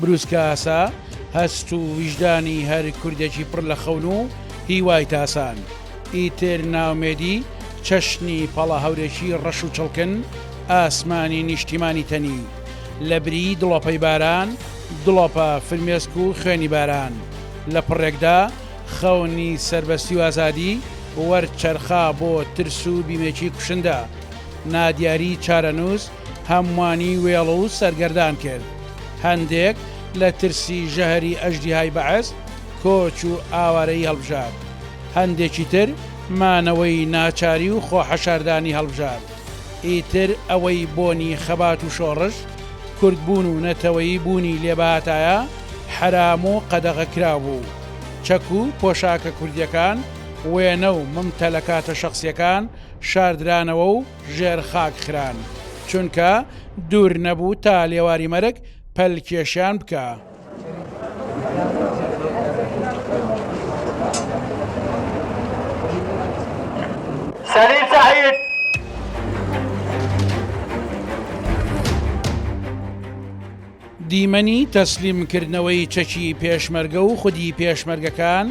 بروسکەئاسا، هەست و ویژدانی هەر کوردێکی پڕ لە خەون و هیوای تاسان، ئیتر ناومێدی چەشنی پەڵەهەورێکی ڕەش و چڵکن، ئاسمانی نیشتیمانی تەنی، لە بری دڵۆپەی باران، دڵۆپە فرمێسک و خوێنی باران، لە پڕێکدا، خەونی سەربەستی و ئازادی، وەرچەرخا بۆ ترس و بیمێکی کوشندە. نادیاری چارەنووس هەمووانی وێڵ و سەرگەردان کرد، هەندێک لە ترسی ژەهری ئەژدیهای بەعس کۆچ و ئاوارەیی هەڵبژارد، هەندێکی تر مانەوەی ناچاری و خۆحەشاردانی هەڵبژارد، ئیتر ئەوەی بۆنی خەبات و شۆڕش، کوردبوون و نەتەوەیی بوونی لێبهاتایە حەرام و قەدەغەکراو بوو، چەک و پۆشاکە کوردییەکان، وێنە و ممتەلەکاتە شەخسییەکان شاردرانەوە و، ژێر خاک خران چونکە دوور نەبوو تا لێواری مەرگ پەل کێشیان بکا. سەلیم سەعید. دیمەنی تەسلیم کردنەوەی چەکی پێشمەرگە و خودی پێشمەرگەکان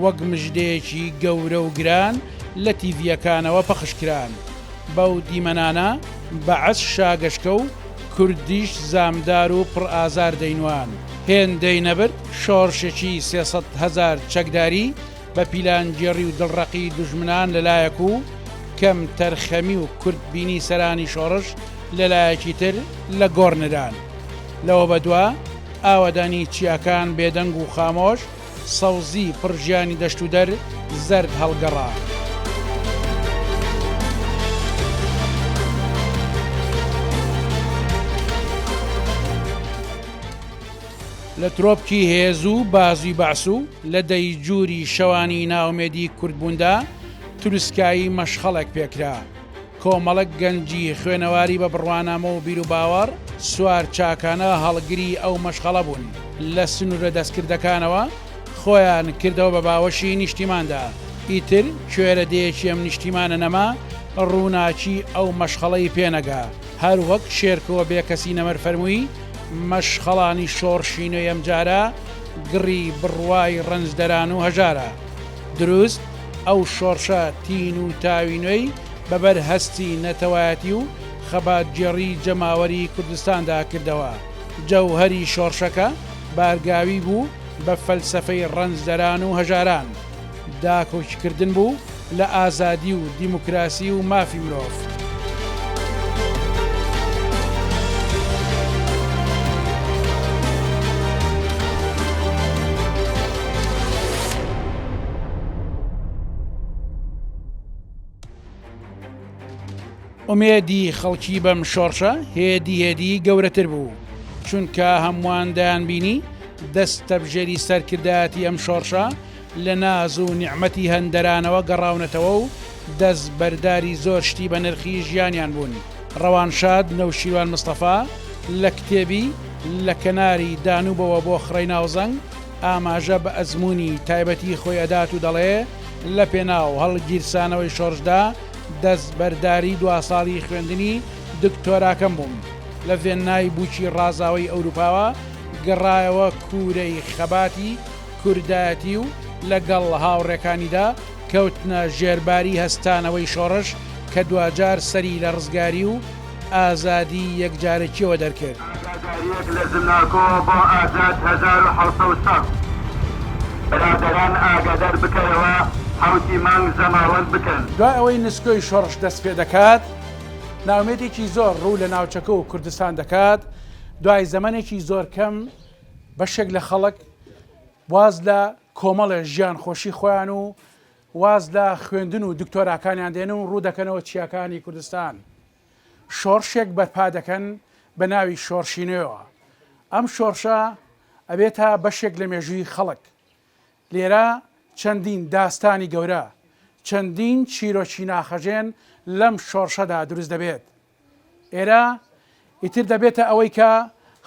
وەک مژدەیەکی گەورە و گران لە تیڤییەکانەوە پەخش کران. بەو دیمەنانە بەعس شاگەشکە و کوردیش زامدار و پڕ ئازار دەینوان. هێندەی نەبرد شۆڕشێکی سێ سەد هەزار چەکداری، بە پیلانگێڕی و دڵڕەقی دوژمنان لە لایەک و کەم تەرخەمی و کورت بینی سەرانی شۆڕش لە لایەکی تر لە گۆڕ نران. لەوە بە دوا ئاوەدانی چیاکان بێدەنگ و خامۆش، سەوزی پڕ ژیانی دەشت و دەر زەرد هەڵگەڕا. لە ترۆپکی هێز و بازوی بەعس و لە دەیجوری شەوانی نائومێدی کوردبوندا تروسکایی مەشخەڵێک پێکرا. کۆمەڵک گەنجی خوێنەواری بە بڕوانامە و بیروباوەڕ سوار چاکانە هەڵگری ئەو مەشخەڵە بون. لە سنورە دەستکردەکانەوە خۆیان کردەوە بە باوەشی نیشتیماندا. ئیتر کوێرە دێیەکی ئەم نیشتیمانە نەما روناکی ئەو مەشخەڵەی پێنەگا. هەروەک شێرکۆ بێکەسی نەمر فەرموی، مەشخەڵانی شۆڕشی نوێ ئەمجارە گڕی بڕوای ڕەنجدەران و هەژارە دروست، ئەو شۆڕشە تین و تاوی نوێی بەبەر هەستی نەتەوایەتی و خەباتگێڕی جەماوەری کوردستاندا کردەوە، جەوهەری شۆڕشەکە بارگاوی بوو بە فەلسەفەی ڕەنجدەران و هەژاران. داکۆکی کردن بوو لە ئازادی و دیموکراسی و مافی مرۆڤ. ئومێدی خەڵکی بەم شۆڕشە هێدی هێدی گەورەتر بوو چونکە هەمووان دەیان بینی دەست تەبژێری سەرکردایەتی ئەم شۆڕشە لە ناز و نیعممەتی هەندەرانەوە گەڕاونەتەوە و دەست بەرداری زۆر شتی بە نرخی ژیانیان بوون ڕەوانشاد نەوشیروان مستەفا لە کتێبی لە کەناری دانوبەوە بۆ خڕی ناوزەنگ ئاماژە بە ئەزمموی تایبەتی خۆی ئەدات و دەڵێ لە پێناو هەڵگیرسانەوەی شۆڕشدا دەستبەرداری دوا ساڵی خوێندنی دکتۆراکەم بووم لە ڤێننای بووکی ڕازاوەی ئەوروپاوە گەڕایەوە کوورەی خەباتی کوردایەتی و لەگەڵ هاوڕێکانیدا کەوتنە ژێرباری هەستانەوەی شۆڕش کە دواجار سەری لە ڕزگاری و ئازادی یەکجارەکیەوە دەرکرد. ئاگاداریەک لە زمناکۆ بۆ ئازاد هەزار و حەوت سەد و شەست. برادەران ئاگادار بکەرەوە حەوتی مانگ زەماوەند بکەن. دوای ئەوەی نسکۆی شۆڕش دەست پێ دەکات، ناومێدێکی زۆر ڕوو لە ناوچەکە و کوردستان دەکات، دوای زەمەنێکی زۆر کەم بەشێک لە خەڵک واز لە کۆمەڵێ ژیان خۆشی خۆیان و واز لە خوێندن و دکتۆراکانیان دێنن و ڕوودەکەنەوە چیاکانی کوردستان شۆڕشێک بەرپا دەکەن بە ناوی شۆڕشی نوێوە ئەم شۆڕشە ئەبێت تا بەشێک لە مێژووی خەڵک لێرە چەندین داستانی گەورە چەندین چیرۆکی ناخەژێن لەم شۆڕشەدا دروست دەبێت ئێرە ئیتر دەبێتە ئەوەی کە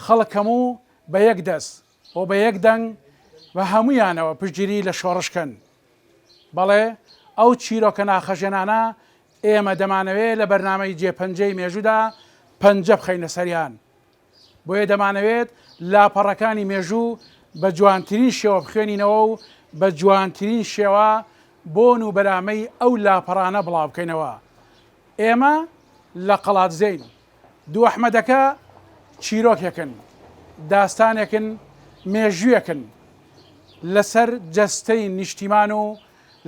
خەڵک هەموو بە یەک دەست و بە یەک دەنگ بە هەموویانەوە پشتگیری لە شۆڕش کەن. بەڵێ ئەو چیرۆکە ناخهەژێنانە ئێمە دەمانەوێ لە بەرنامەی جێ پەنجەی مێژوودا پەنجە بخەینە سەریان. بۆیە دەمانەوێت لاپەڕەکانی مێژوو بە جوانترین شێوە بخوێنینەوە و بە جوانترین شێوە بۆن و بەرامەی ئەو لاپەڕانە بڵاوبکەینەوە. ئێمە لە قەڵادزێین. دوو ئەحمەدەکە چیرۆکێکن، داستانێکن، مێژوویەکن لەسەر جەستەی نیشتیمان و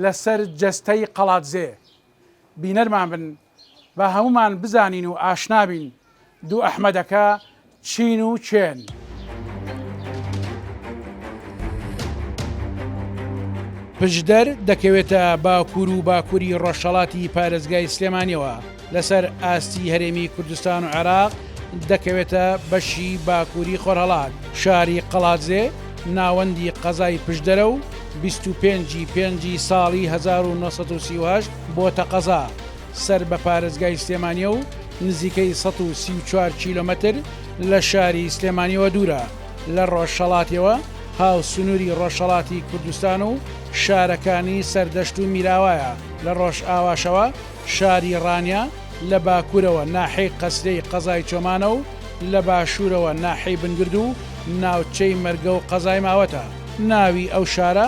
لەسەر جەستەی قەڵادزێ. بینەرمان بن با هەموومان بزانین و ئاشنا بین دوو ئەحمەدەکە چین و کێن. پشدەر دەکەوێتە باکوور و باکووری ڕۆژهەڵاتی پارێزگای سلێمانیەوە، لەسەر ئاستی هەرێمی کوردستان و عێراق دەکەوێتە بەشی باکووری خۆرهەڵات، شاری قەڵادزێ ناوەندی قەزای پشدەرە و بیست و پێنج ی پێنج ی ساڵی هەزار و نۆ سەد و سی و هەشت بۆتە قەزا، سەر بە پارێزگای سلێمانییە و نزیکەی سەد و سی و چوار کیلۆمەتر لە شاری سلێمانییەوە دوورە، لە ڕۆژهەڵاتیەوە هاوسنووری ڕۆژهەڵاتی کوردستان و شارەکانی سەردەشت و میراوایە، لە ڕۆژئاواشەوە. شاری ڕانیە لە باکوورەوە ناحیەی قەسرێی قەزای چۆمانە و لە باشوورەوە ناحیەی بنگرد و ناوچەی مەرگە و قەزای ماوەتە. ناوی ئەو شارە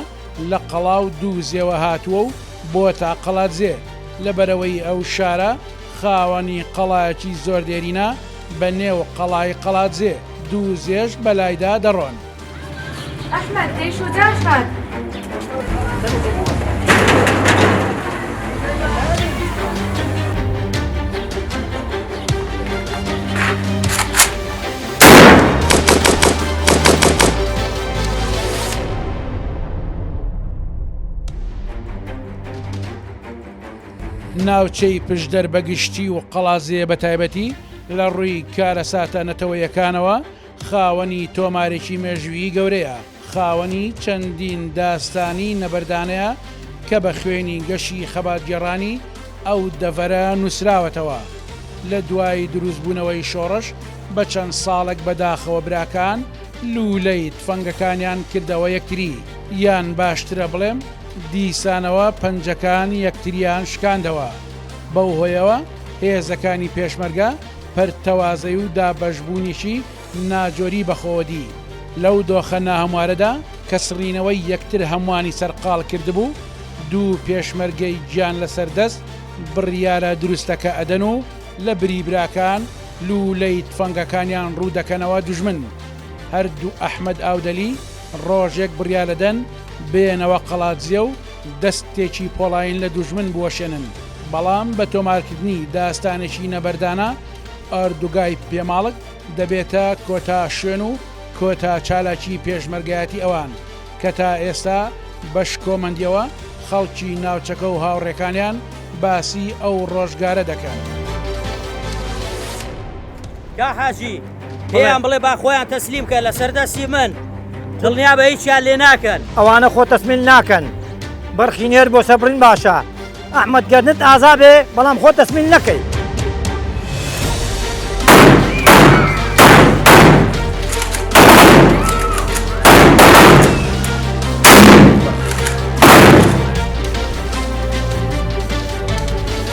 لە قەڵا و دووزێوە هاتووە و بۆتە قەڵادزێ، لە بەرەوەی ئەو شارە خاوەنی قەڵایەکی زۆر دێرینە بە نێو قەڵای قەڵادزێ، دووزێش بەلایدا دەڕۆن. ئەحمەد ئەی شو داخات ناوچەی پشدەر بە گشتی و قەڵازێ بە تایبەتی لە ڕووی کارەساتە نەتەوەیەکانەوە خاوەنی تۆمارێکی مێژوویی گەورەیە، خاوەنی چەندین داستانی نەبەردانەیە کە بە خوێنی گەشی خەباتگێڕانی ئەو دەڤەرە نووسراوەتەوە. لە دوای دروستبوونەوەی شۆڕش بە چەند ساڵێک بە داخەوە براکان لوولەی تفەنگەکانیان کردەوە یەکتری، یان باشترە بڵێم دیسانەوە پەنجەکان یەکتریان شکاندەوە. بەو هۆیەوە هێزەکانی پێشمەرگە پەرتەوازەیی و دابەشبوونیی ناجۆری بەخۆوەدی، لەو دۆخە ناهەموارەدا کە سڕینەوەی یەکتر هەمووانی سەرقاڵ کردبوو، دوو پێشمەرگەی گیان لەسەر دەست بڕیارە دروستەکە ئەدەن و لە بری براکان لوولەی تفەنگەکانیان ڕوو دەکەنەوە دوژمن. هەردوو ئەحمەد ئاودەلی ڕۆژێک بڕیارەدەن بێنەوە قەڵادزێ و دەستێکی پۆڵایین لە دوژمن بوەشێنن، بەڵام بە تۆمارکردنی داستانێکی نەبەردانە، ئۆردوگای پێماڵک دەبێتە کۆتا شوێن و کۆتا چالاکی پێشمەرگایەتی ئەوان، کە تا ئێستا بە شکۆمەندیەوە خەڵکی ناوچەکە و هاوڕێکانیان باسی ئەو ڕۆژگارە دەکەن. کا حاجی پێیان بڵێ با خۆیان تەسلیم کە لەسەر دەستی من دڵنیا بە هیچیان لێ ناکەن ئەوانە خۆ تەسمیل ناکەن بەرخی نێر بۆ سەبرین باشە ئەحمد گەرنت ئازا بێ بەڵام خۆ تەسمیل نەکەی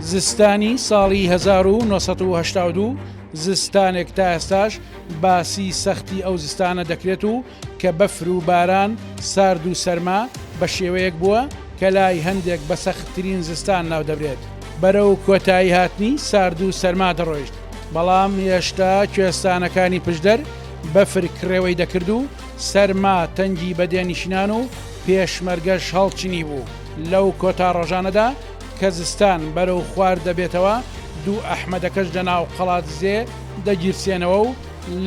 زستانی ساڵی 1992 زستانێک تا ئێستاش باسی سەختی ئەو زستانە دەکرێت و کە بەفر و باران سارد و سەرما بە شێوەیەک بووە کە لای هەندێک بە سەختترین زستان ناو دەبرێت بەرەو کۆتایی هاتنی سارد و سەرما دەڕۆیشت بەڵام هێشتا کوێستانەکانی پشدەر بەفر کڕێوەی دەکرد و سەرما تەنگی بە دێنشینان و پێشمەرگەش هەڵچنیبوو، لەو کۆتا ڕۆژانەدا کە زستان بەرەو خوار دەبێتەوە، دوو ئەحمەدەکەش لە ناو قەڵادزێ دەگیرسێنەوە و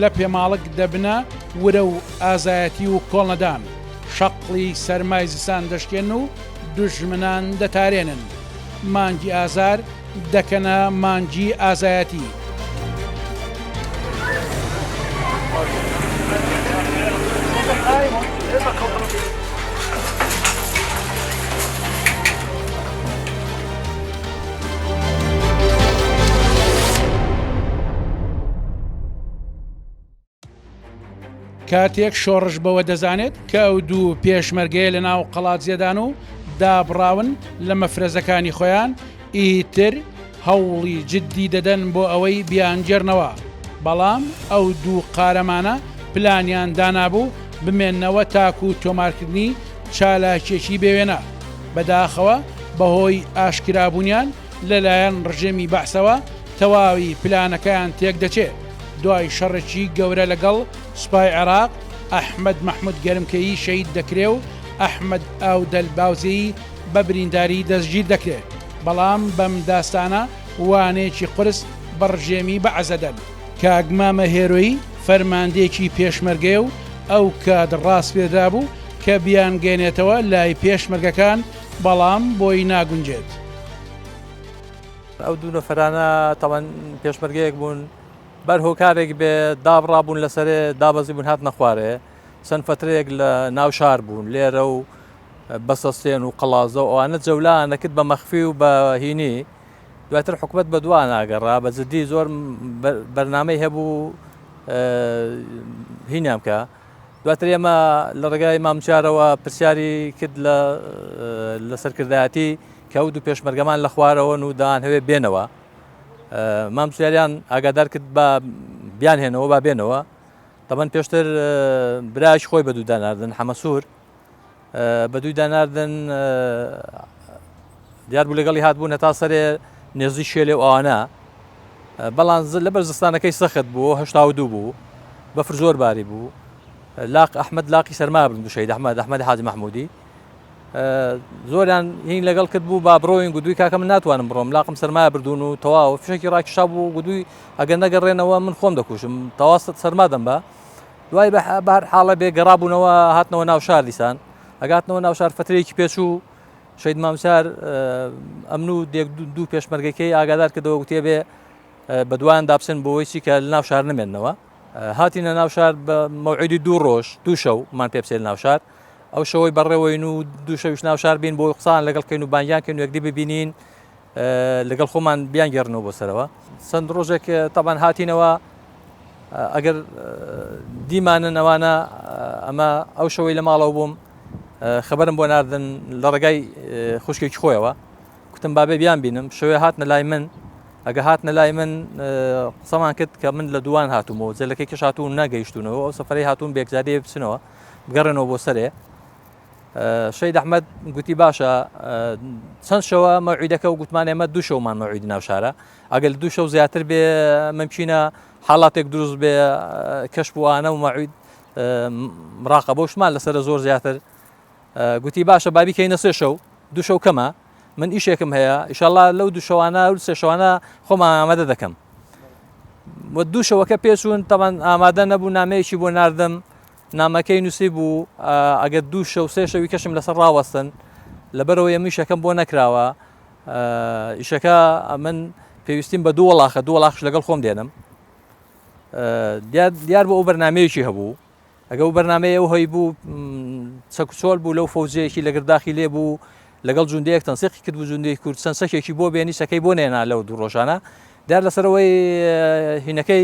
لە پێماڵک دەبنە ورە و ئازایەتی و کۆڵنەدان شەقڵی سەرمای زستان دەشکێن و دوژمنان دەتارێنن. مانگی ئازار. دەکەنە مانگی ئازایەتی. کاتێک شۆڕش بەوە دەزانێت کە ئەو دوو پێشمەرگەیە لە ناو قەڵاتزیێدان و دابڕاون لە مەفرەزەکانی خۆیان ئیتر هەوڵی جددی دەدەن بۆ ئەوەی بیانگەرنەوە بەڵام ئەو دوو قارەمانە پلانیان دانابوو بمێنەوە تاکو و تۆمارکردنی چالاکێکی بێوێنە بەداخەوە بەهۆی ئاشکرابوونیان لەلایەن ڕژێمی بەعسەوە تەواوی پلانەکەیان تێکدەچێ، دوای شەڕێکی گەورە لەگەڵ سوپای عێراق، ئەحمەد مەحمود گەرمکێی شەهید دەکرێ و ئەحمەد ئاودەل باوزێی بە برینداری دەستگیر دەکرێ، بەڵام بەم داستانە وانەیەکی قورس بە ڕژێمی بەعس دەدەن. کاک مامە هێرۆی فەرماندەیەکی پێشمەرگەیە و ئەو کات ڕاسپێردرابوو کە بیانگەیەنێتەوە لای پێشمەرگەکان، بەڵام بۆی ناگونجێت. ئەو دوو نەفەرانە تاڵەن پێشمەرگەیەک بوون بەر هۆکارێک بێ دابڕابوون لەسەرێ دابەزی بوون هات نەخوارێ چەند فترەیەک لە ناو شار بوون لێرە و بەسەستێن و قەڵازە و ئەوانە جەولانەکرد بە مەخفی و بە هینی دواتر حکوومەت بە دوان ناگەڕا بە جددی زۆر بەرنمەی هەبوو هینیان بکە دواتر ئێمە لە ڕێگای مام چارەوە پرسیاری کرد لە لە سەرکردایەتی کە ئەو دوو پێشمەرگەمان لە خوارەوەن و دان هەوێ بێنەوە مام سیاریان ئاگادار کرد بە بیان هێنەوە با بێنەوە تەمەەن پێشتر براش خۆی بە دووداناردن حەمەسوور بە دووی داناردن دیار بوو لەگەڵی هاتبوون هەتا سەرێ نێزی شێلێ و ئەوانە بەڵام لە بەرزستانەکەی سەخت بوو هشتا و دوو بوو بەفر زۆر باری بوو لاق ئەحمد لاقی سەرما بن دوشەی دەحمە دەحمە حاج مححمودی زۆریان هین لەگەڵ کرد بوو با بڕۆین گودوی کاکە من ناتوانم بڕۆم لاقم سەرما بردون و تەواو فشکی ڕاکیشا بوو گودوی ئەگەر نەگەڕێنەوە من خۆم دەکوشم تەواست سەرما دەم بە دوای بەهەر حاڵە بێ گەڕابوونەوە هاتنەوە ناوشار دیسان ئەگاتنەوە ناوشار فترەیەکی پێچوو شەید مامسار ئەمن و دێک دوو پێشمەرگەکەی ئاگادار کردەوە گوتێ بێ بەدوان دابسن بۆی چی کە لە ناوشار نمێنەوە هاتینە ناوشار بە مەوعیدی دوو ڕۆژ دوو شەومان پێپسێل ناوشار ئەو شەوەی بەڕێوەین و دوو شەویش ناوشار بین بۆی قسان لەگەڵ کەین و بانگیان کەین و یەکدی ببینین لەگەڵ خۆمان بیانگێڕنەوە بۆ سەرەوە چەند ڕۆژێک تەبان هاتینەوە ئەگەر دیمانن ئەوانە ئەمە ئەو شەوەی لە ماڵەوە بووم خبرم بۆ ناردن لە ڕێگای خوشکێکی خۆیەوە کوتم بابێ بیان بینم شوێ هاتنە لای من ئەگە هاتنە لای من قسەمان کرد کە من لە دووان هاتوومەوە جەلەکەی کەش هاتوون نەگەیشتونەوە ئەو سەفری هاتوون بێکزادی بچنەوە بگەڕێنەوە بۆ سەرێ شەید ئەحمەد گوتی باشە چەند شەوە مەوعیدەکە و گوتمان ئێمە دوو شەومان مەوعیدی ناو شارە ئەگەل دوو شەو زیاتر بێ ممکینە حاڵاتێک دروست بێ کەش بووانە و مەعید مراقە بۆشمان لەسرە زۆر زیاتر گوتی باشە بابی کەی نەسێ شەو دوو شەو کەمە من ئیشێکم هەیە ئیشاءله لەو دوو شەوانە و سێ شەوانە خۆمان ئامادە دەکەم دوو شەوەکە پێچوون تەمان ئامادە نەبوو نامەیەکی بۆ نردم نامەکەی نووسیبوو، ئەگەر دوو شەو سێ شەوی کەشم لەسەر ڕاوەستن، لەبەرئەوەی ئەمن ئیشەکەم بۆ نەکراوە، ئیشەکە ئەمن پێویستیم بە دوو وەڵاخە، دوو وەڵاخش لەگەڵ خۆم دێنم. دیار بوو ئەو بەرنامەیەکی هەبوو، ئەگە ئەو بەرنامەی ئەو هەی بوو چەکوچۆل بوو لەو فەوجەیەکی لەگەر داخی لێ بوو، لەگەڵ جوندەیەک تەنسیقی کرد بوو جوندەی کورد چەند چەکێکی بۆ بێنی چەکەی بۆ نێنا لەو دوو ڕۆژانە، دیار لەسەرەوەی هینەکەی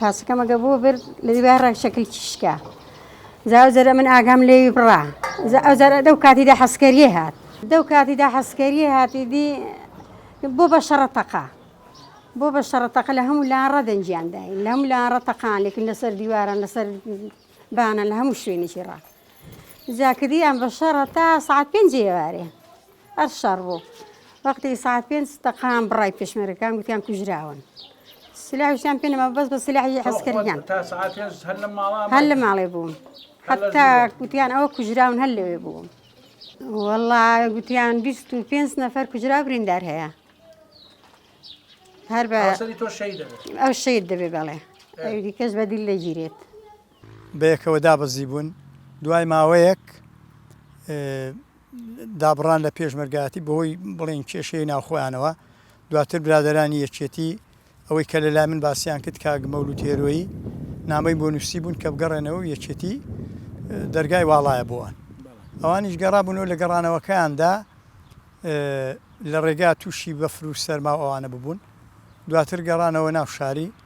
پاسەکە مەگە بۆ برد لە دیوار ڕەگ شەکلکی شکا جا ئەو جەرە من ئاگام لێوی بڕا جا ئەو جەرە دەو کاتیدا حەسکەریە هات دەو کاتیدا حەسکەریە هاتی دی بۆ بە شەڕە تەقا بۆ بە شەڕەتەقە لە هەموو لا ڕەدەنجیان داین لە هەموو لا ڕەتەقان لێکن لەسەر دیواران لەسەر بانە لە هەموو شوێنێکی ڕا جاکردیان بە شەڕە تا سعات پێنجێوارێ ئەر شەڕ بوو وەقتی ساعت پێنج تەقان بڕای پێشمەرەکان گوتیان کوژراون سلاحیان پێ نەما بەس بە سلاحی عسکەریان هەر لە ماڵێ بووم حتا گوتیان ئەوە کوژراون هەر لەوێ بووم وەڵا گوتیان 25 نەفەر کوژرا بریندار هەیە هەر بە ئەو شید دەبێ بەڵێ دیکەش بەدیل دەگیرێت. بەیەکەوە دابەزیبوون، دوای ماوەیەک دابڕان لە پێشمەرگایەتی بەهۆی بڵێن کێشەی ناو خۆیانەوە، دواتر برادەرانی یەکێتی ئەوەی کە لەلای من باسیان کرد کاک مەولود هێرۆیی نامەی بۆ نووسیبوون کە بگەڕێنەوە و یەکێتی دەرگای واڵایە بۆوان ئەوانیش گەڕابوونەوە لە گەڕانەوەکەیاندا لە ڕێگا تووشی بەفر و سەرما و ئەوانە ببوون دواتر گەڕانەوە ناو شاری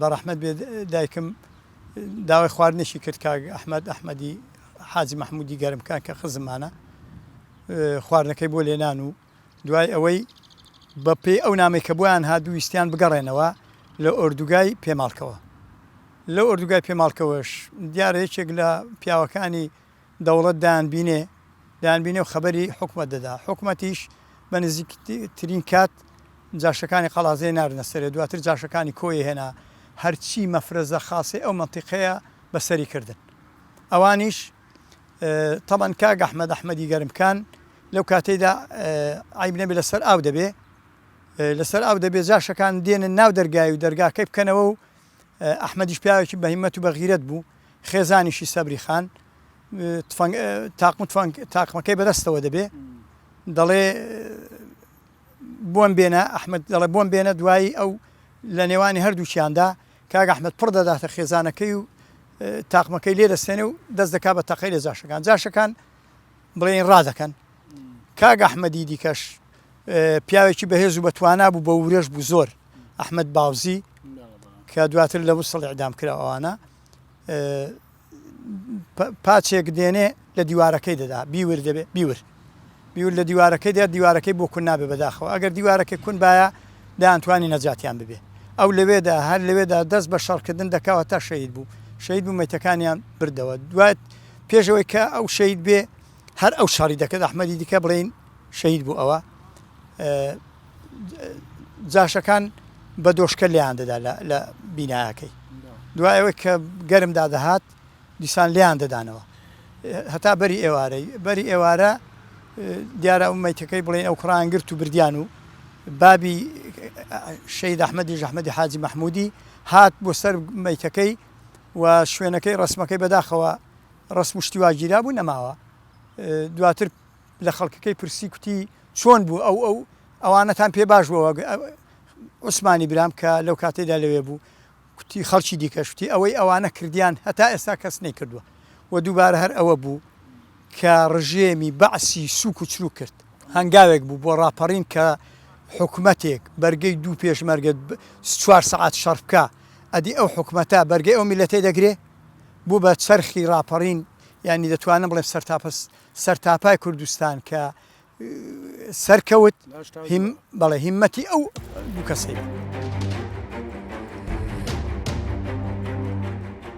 بەڕەحمەت بێت دایکم داوای خواردنێکی کرد کاک ئەحمد ئەحمەدی حاجی مححمودی گەرمکە کە خزمانە خواردنەکەی بۆ لێنان و دوای ئەوەی بە پێی ئەو نامی کە بۆیان هادوویستیان بگەڕێنەوە لە ئۆردوگای پێماڵکەوە لە ئۆردوگای پێماڵکەوەش دیارە یەکێک لە پیاوەکانی دەوڵەت دەیانبینێ دەیانبینێ و خەبەری حکومەت دەدا، حکومەتیش بە نزیکترین کات جاشەکانی قەڵازێ ناردنە سەرێ، دواتر جاشەکانی کۆیێ هێنا، هەرچی مەفرەزە خاسەی ئەو مەنتیقەیە بە سەری کردن. ئەوانیش تەبەن کاک ئەحمەد ئەحمەدی گەرمکان لەو کاتەیدا عیب نەبێ لەسەر ئاو دەبێ، لەسەر ئاو دەبێ جاشەکان دێنن ناو دەرگای و دەرگاکەی بکەنەوە و ئەحمەدیش پیاوێکی بەهیمەت و بەغیرەت بوو، خێزانیشی سەبری خان تفەنگ تاقم و تفەنگ تاقمەکەی بەدەستەوە دەبێ دەڵێ بۆم بێنە ئەحمد دەڵێ بۆم بێنە دوایی ئەو لە نێوانی هەردووچیاندا کاک ئەحمد پڕ دەداتە خێزانەکەی و تاقمەکەی لێ دەستێنێ و دەست دەکا بە تەقەی لە جاشەکان جاشەکان بڵێین ڕادەکەن. کاک ئەحمەدی دیکەش پیاوێکی بەهێز و بەتوانا بوو بە ورەش بوو زۆر ئەحمد باوزی کە دواتر لە وسڵ ئەعدام کرا ئەوانە پاچێک دێنێ لە دیوارەکەی دەدا بیور دەبێ بیور بیور لە دیوارەکەی دێت دیوارەکەی بۆ کون نابێ بەداخەوە ئەگەر دیوارەکەی کون باە دایانتوانی نەجاتیان ببێ ئەو لەوێدا هەر لەوێدا دەست بە شەڕکردن دەکەوە تا شەید بوو شەید بوو مەتەکانیان بردەوە دوات پێش ئەوەی کە ئەو شەهید بێ هەر ئەو شەڕی دەکرد ئەحمەدی دیکە بڵێین شەهید بوو ئەوە جاشەکان بە دۆشکە لیان دەدا لە بینایەکەی دوایەوەی کە گەرمدا دەهات دیسان لیان دەدانەوە هەتا بەری ئێوارەی بەری ئێوارە دیارە ئەو میتەکەی بڵێن ئەو کوڕان گرت و بردیان و بابی شەید ئەحمەدی ژەحمەدی حاجی مححمودی هات بۆ سەر میتەکەی و شوێنەکەی ڕەسمەکەی بەداخەوە ڕەسم و شتی وا گیرا بوو نەماوە دواتر لە خەڵکەکەی پرسی کوتی چۆن بوو ئەو ئەو ئەوانەتان پێ باش بووە عوسمانی برام کە لەو کاتێدا لەوێ بوو کوتی خەڵکی دیکەشتی ئەوەی ئەوانە کردیان هەتا ئێستا کەس نەی کردووە و دووبارە هەر ئەوە بوو کە ڕژێمی بەعسی سوک و چروک کرد هەنگاوێک بوو بۆ ڕاپەڕین کە حکوومەتێک بەرگەی دوو پێشمەرگە چوار سعات شەڕکە ئەدی ئەو حکومەتە بەرگەی ئەو میلەتەی دەگرێ؟ بوو بە چەرخی ڕاپەڕین یانی دەتوانم بڵێم سەرتاپە سەرتاپای کوردستان کە سەرکەوت بەڵێ هیمەتی ئەو دوو کەسەی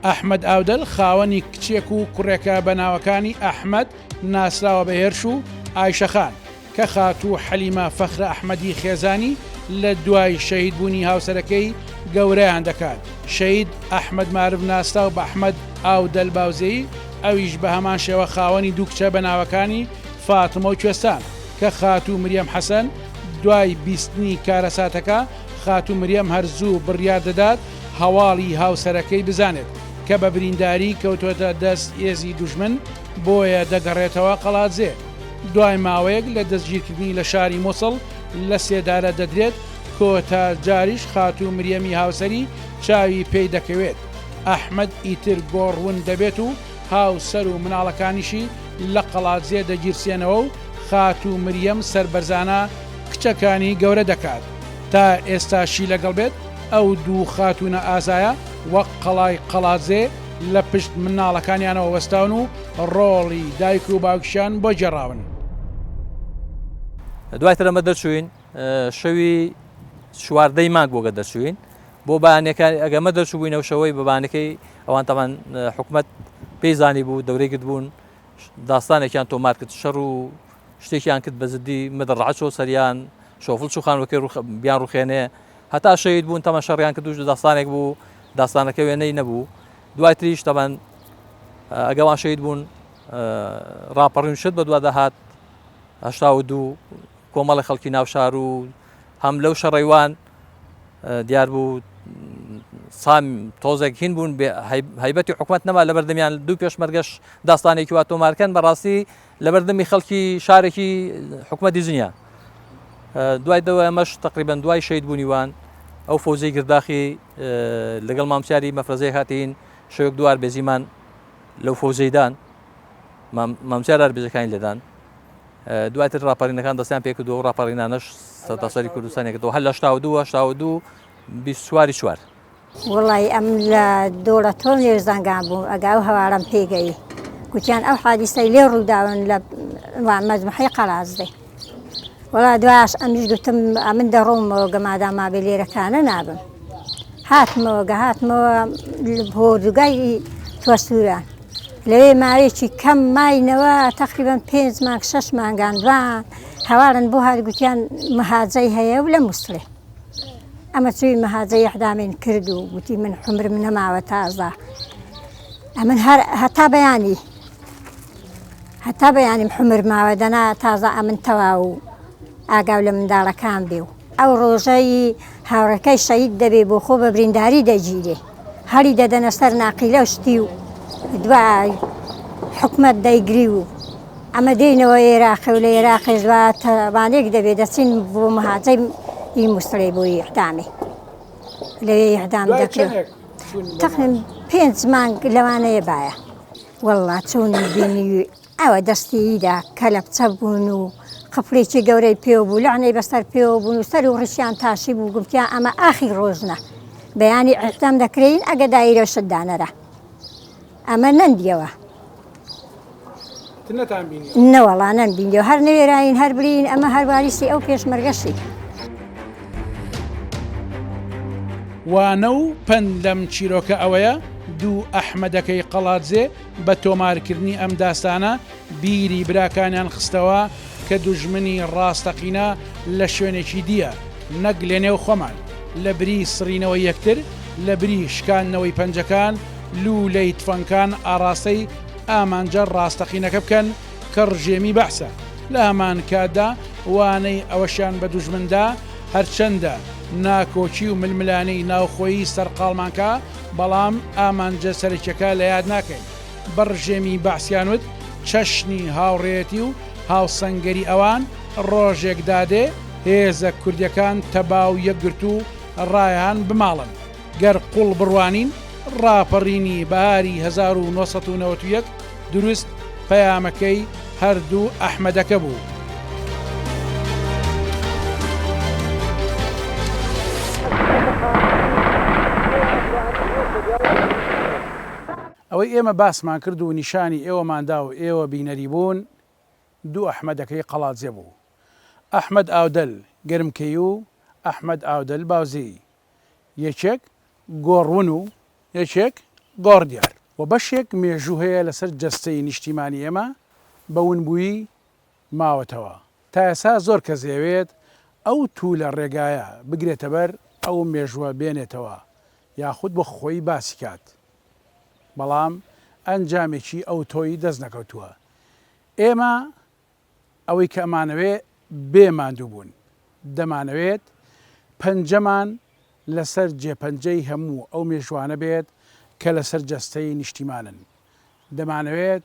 ئەحمد ئاودەل خاوەنی کچێک و کوڕێکە بە ناوەکانی ئەحمد ناسراوە بە هێرش و ئایشەخان کە خاتوو حەلیمە فەخرە ئەحمەدی خێزانی لە دوای شەهید بوونی هاوسەرەکەی گەورەیان دەکات، شەهید ئەحمەد مارف ناسراو بە ئەحمەد ئاودەل باوزێی، ئەویش بە هەمان شێوە خاوەنی دوو کچە بە ناوەکانی فاتمە و کوێستان، کە خاتوو مریەم حەسەن دوای بیستنی کارەساتەکە، خاتوو مریەم هەر زوو بڕیار دەدات هەواڵی هاوسەرەکەی بزانێت، کە بە برینداری کەوتووەتە دەست هێزی دوژمن، بۆیە دەگەڕێتەوە قەڵادزێ. دوای ماوەیەک لە دەستگیرکردنی لە شاری موسڵ لە سێدارە دەدرێت، کۆتا جاریش خاتوو مریەمی هاوسەری چاوی پێی دەکەوێت، ئەحمەد ئیتر گۆڕ ون دەبێت و هاوسەر و مناڵەکانیشی لە قەڵادزێ دەگیرسێنەوە و خاتوو مریەم سەربەرزانە کچەکانی گەورە دەکات تا ئێستاشی لەگەڵ بێت، ئەو دوو خاتوونە ئازایە وەک قەڵای قەڵادزێ لە پشت مناڵەکانیانەوە وەستاون و ڕۆڵی دایک و باوکشان بۆ گێڕاون. دوای ترەمە دەرچوین شەوی چواردەی مانگ بۆگە دەرچوین بۆ بانەکان ئەگەمە دەرچوبووینەوە شەوەی بەبانەکەی ئەوان تەمان حکومت پێی زانی بوو دەورەی گرت بوون داستانێکیان تۆمار کرد شەڕ و شتێکیان کرد بەزدی مەدەڕعچۆ سەریان شۆفل چوخانەکەی بیان ڕوخێنێ هەتا شەید بوون تەمە شەڕیان کردوش داستانێک بوو داستانەکە وێنەی نەبوو دوای تریش تەبەن ئەگەوان شەید بوون ڕاپەڕین شت بە دوا دەهات هشتا و دوو کۆمەڵی خەڵکی ناوشار و هەم لەو شەڕەیوان دیار بوو سام تۆزێک هین بوون هەیبەتی حکوومەت نەما لە بەردەمیان دوو پێشمەرگەش داستانێکی وا تۆمارکەن بەڕاستی لە بەردەمی خەڵکی شارێکی حکوومەتی زنیە دوای دەوە ئەمەش تقریبان دوای شەید بوونیوان ئەو فۆزی گرداخی لەگەڵ مامسیاری مەفرەزەی هاتین شەوێک دوار بێزیمان لەو فۆزەیدان مامسیار ئەربێزەکانی لێدان دواتر راپەرینەکان دەستیان پێ کردو راپەڕینانەش سەتاسەری کوردستانی کردەوە هەر لە شتا و دووە شتا و دوو بیسواری چوار وڵی ئەم لە دۆڵە تۆ نێژ زەنگان بوو ئەگا و هەوارم پێگەی گوتیان ئەو حادیسەی لێ ڕووداون لە مەجمحی قەرازدەی وەڵا دوایش ئەمیش گوتم ئەمن دەڕۆمەوە گەمادا مابێ لێرەکانە نابم هاتمەوە گە هاتمەوە هۆردوگای توەسووران لەوێ ماوێکی کەم ماینەوە تقریبان پێنج مانگ شش مانگان دوان هەواڵن بۆ هاگوتیان مەهاجەی هەیە و لە مووسڵێ ئەمە چوی مەهاجە یحدامین کرد و گوتی من حمرم نەماوە تازە ئەمن هەر هەتا بەیانی هەتا بەیانیم حمر ماوە دەنا تازە ئەمن تەواو و ئاگاو لە منداڵەکان بێ و ئەو ڕۆژەی هاوڕەکەی شەید دەبێ بۆ خۆ بە برینداری دەگیرێ هەڵی دەدەنە سەر ناقیلە و شتی و دوای حکومت دەیگری و ئەمە دێنەوە عێراقی و لە عێراقی زوا تەوانێک دەبێ دەچین بۆ مهاجەی ئی مووسڵی بۆ یحدامی لەوێ یحدام دەکرێت. تەقریبەن پێنج مانگ لەوانەیە بایە واللە چوونی بینی ئەوە دەستیدا کەلەپچە بوون و قپڵێکی گەورەی پێو بوو لەعنەی بەسەر پێوە بوون و سەر و ڕشیان تاشی بوو گفتیا ئەمە ئاخی ڕۆژنە بەیانی ئەحتام دەکرین ئەگە دایرەشت دانەرە ئەمە نەمدیەوە نەوەڵا نەم بینیەوە هەر نەوێراین هەر برین ئەمە هەرواریسی ئەو پێشمەرگەشی. وانە و پەند لەم چیرۆکە ئەوەیە دوو ئەحمەدەکەی قەڵادزێ بە تۆمارکردنی ئەم داستانە بیری براکانیان خستەوە کە دوژمنی ڕاستەقینە لە شوێنێکی دییە نەک لەنێو خۆمان، لەبری سڕینەوەی یەکتر، لەبری شکاندنەوەی پەنجەکان، لوولەی تفەنگکان ئاڕاستەی ئامانجە ڕاستەقینەکە بکەن کە ڕژێمی بەعسە، لە هەمان کاتدا وانەی ئەوەشیان بە دوژمن دا هەرچەندە ناکۆکی و ململانێی ناوخۆیی سەرقاڵمان کا، بەڵام ئامانجە سەرەکیەکە لە یاد ناکەین. بە ڕژێمی بەعسیان وت، چەشنی هاوڕێیەتی و هاوسەنگەری ئەوان ڕۆژێک دادێ هێزە کوردیەکان تەبا و یەکگرتوو ڕایەهان بماڵن. گەر قوڵ بڕوانین، ڕاپەڕینی بەهاری هەزار و نۆ سەد و نەوەد و یەک دروست پەیامەکەی هەردوو ئەحمەدەکە بوو. ئەوەی ئێمە باسمان کرد و نیشانی ئێوەمان دا و ئێوە بینەری بوون، دوو ئەحمەدەکەی قەڵادزێ بوو، ئەحمەد ئاودەل گەرمکەیی و ئەحمەد ئاودەل باوزێیی، یەکێک گۆڕون و یەکێک گۆڕدیار و بەشێک مێژوو هەیە لەسەر جەستەی نیشتیمانی ئێمە بە ونبوویی ماوەتەوە، تا ئێستا زۆر کەس دەیەوێت ئەو توولە ڕێگایە بگرێتەبەر ئەو مێژووە بێنێتەوە یاخود بۆ خۆی باسی کات. بەڵام ئەنجامێکی ئەوتۆی دەست نەکەوتووە. ئێمە ئەوەی کە ئەمانەوێ بێ ماندووبوون. دەمانەوێت پەنجەمان لەسەر جێپەنجەی هەموو ئەو مێژووانە بێت کە لەسەر جەستەی نیشتیمانن. دەمانەوێت